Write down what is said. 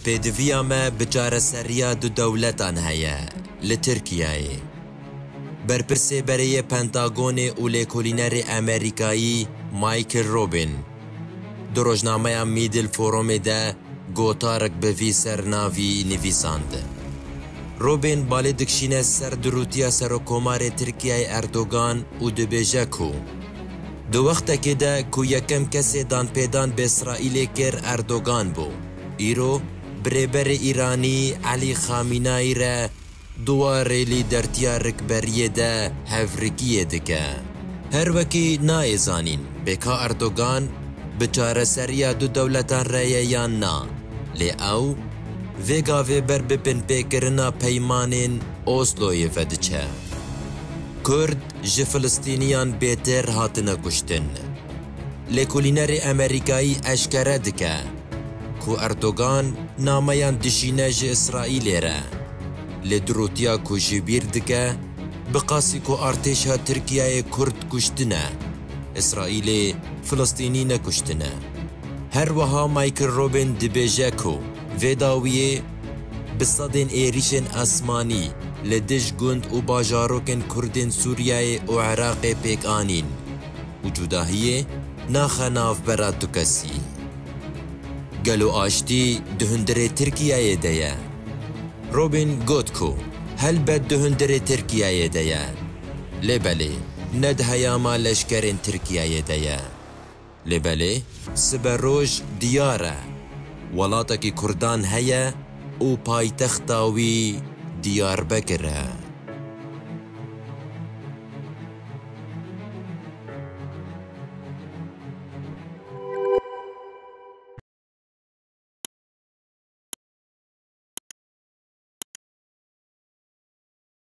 Pêdiviya me bi çareseriya du dewletan heye li Tirkiyeyê. Berpirsêberê yê Pentagonê û lêkolînerê Amerîkayî Michael Robin di rojnameya Middle Forumê de gotarik bi vî sernavî nivîsand. Robin balê dikşîne ser dirûtiya Serokkomarê Tirkiyeyê Erdogan û dibêje ku, Di wextekê de ku yekem kesê danpêdan bi Îsraîlê kir Erdogan bû, îro bi Rêberê Îranî Elî Xamînayî re di warê lîdertiya rikberiyê de hevrikiyê dike. Her wekî nayê zanîn bê ka Erdogan bi çareseriya du dewletan re ye yan na, lê ew vê gavê ber bi binpêkirina peymanên Osloyê vediçe. Kurd ji Filistîniyan bêtêr hatine kuştin. Lêkolînerê Amerîkayî eşkere dike ku Erdogan nameyan dişîne ji Îsraîlê re, lê dirotiya ku jî bîr dike bi qasî ku artêşa Tirkiyeyê Kurd kuştine, Îsraîlê Filistînî nekuştine. Her wiha Michael Robin dibêje ku, Vê dawiyê bi sedên êrîşên esmanî li dij gund û bajarokên Kurdên Sûriyeyê û Iraqê pêk anîn û cudahiyê naxe navbera tu kesî. Gelo aştî di hundirê Tirkiyeyê de ye? Robin got ku helbet di hundirê Tirkiyeyê de ye. Lê belê ne di heyama leşkerên Tirkiyeyê de ye. Lê belê sibe roj diyar e, welatekî kurdan heye û paytexta wî Diyarbekir e.